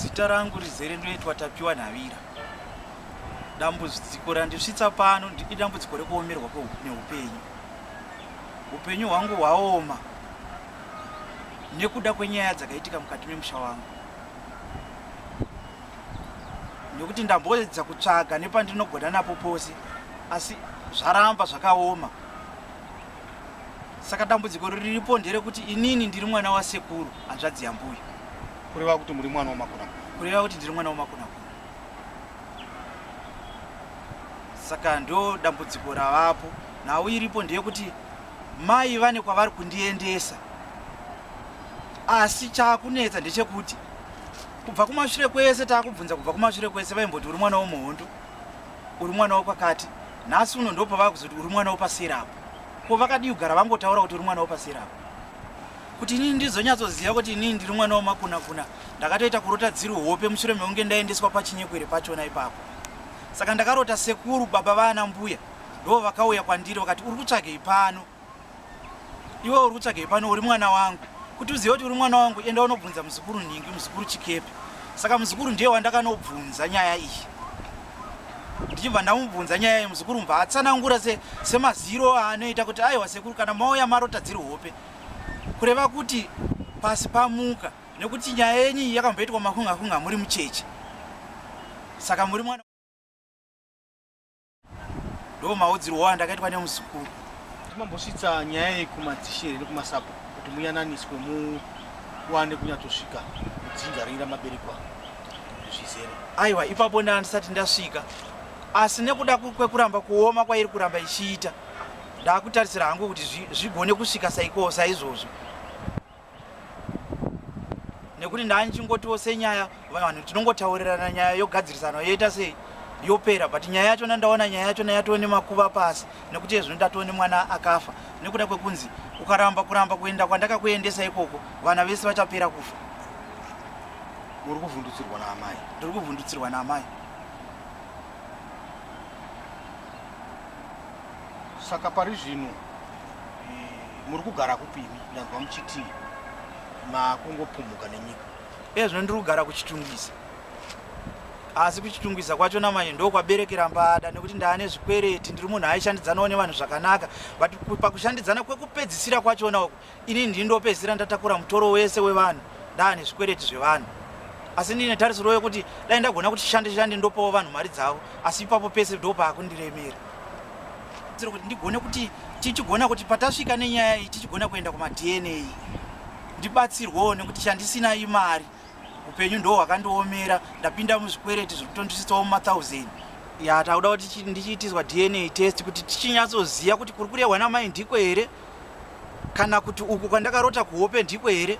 Zita rangu rizere ndoitwa Tapiwa Nhavira. Dambudziko randisvitsa pano idambudziko rekuomerwa neupenyu. Upenyu hwangu hwaoma nekuda kwenyaya dzakaitika mukati memusha wangu nekuti ndamboedza kutsvaga nepandinogona napo pose asi zvaramba zvakaoma saka dambudziko riripo nderekuti inini ndiri mwana wasekuru hanzvadzi yambuya kureva kuti muri mwana wamakuna kureva kuti ndiri mwana wamakuna saka ndo dambudziko ravapo nhau iripo ndeyekuti mai vane kwavari kundiendesa asi chaakunetsa ndechekuti kubva kumashure kwese taakubvunza kubva kumashure kwese vaimboti uri mwana womuhondo uri mwana wekwakati nhasi uno ndopa vakuzoti uri mwana wepasera apo ko vakadii kugara vangotaura kuti uri mwana wepasera apo kuti inini ndizonyatsoziva kuti inini ndiri mwana wemakuna kuna ndakatoita kurota dziri hope mushure mekunge ndaendeswa pachinyekwere pachona ipapo saka ndakarota sekuru baba vaana mbuya ndo vakauya kwandiri vakati uri kutsvagei pano Iwe uri kutsvagei pano uri mwana wangu? Kuti uzive kuti uri mwana wangu enda unobvunza muzukuru Nhingi, muzukuru Chikepe. Saka muzukuru ndiye wandakanobvunza nyaya iyi. Ndichibva ndamubvunza nyaya iyi muzukuru mbva atsanangura se, semaziro aanoita kuti aiwa sekuru kana mauya marota dziri hope. Kureva kuti pasi pamuka nekuti nyaya yenyu iyi yakamboitwa makunga kunga muri mucheche. Saka muri mwana ndo maudzirwo waya ndakaitwa nemuzukuru timambosvitsa nyaya iyi kumadzishe here kumasapo kuti muyananiswe muwane kunyatsosvika kudzinza ringi ramaberekwa zvizere aiwa ipapo ndaa ndisati ndasvika asi nekuda kwekuramba kuoma kwairi kuramba ichiita ndakutarisira hangu kuti zvigone kusvika saikoo saizvozvo nekuti ndanichingotiwo senyaya vanhu tinongotaurirana nyaya yogadzirisana yoita sei yopera but nyaya yacho nandaona nyaya yacho nayatoo nemakuva pasi nekuti ezvino ndatoo nemwana akafa nekuda kwekunzi ukaramba kuramba kuenda kwandakakuendesa ikoko vana vese vachapera kufa uri kuvhundutsirwa naamai ndiri kuvhundutsirwa naamai saka pari zvino eh, muri kugara kupimi ndanzwa muchiti makungopumhuka nenyika iye zvino ndiri kugara kuchitungwiza asi kuchitungwiza kwacho namanye ndokwaberekera mbada nekuti ndaane zvikwereti ndiri munhu aishandidzanawo nevanhu zvakanaka but pakushandidzana kwekupedzisira kwachona uku Ini ndini ndopedzisira ndatakura mutoro wese wevanhu ndaane zvikwereti zvevanhu asi ndine tarisiro yekuti dai ndagona kuti shande shande ndopawo vanhu mari dzavo asi ipapo pese ndopaakundiremera kuti ndigone kuti tichigona kuti patasvika nenyaya iyi tichigona kuenda kumadna ndibatsirwewo nekuti chandisina imari upenyu ndo hwakandiomera ndapinda muzvikwereti zviri kutondisitsawo mumathousand ya takuda kuti ndichiitiswa dna test kuti tichinyatsoziva kuti kuri kurehwa namai ndiko here Kana kuti uku kwandakarota kuhope ndiko here?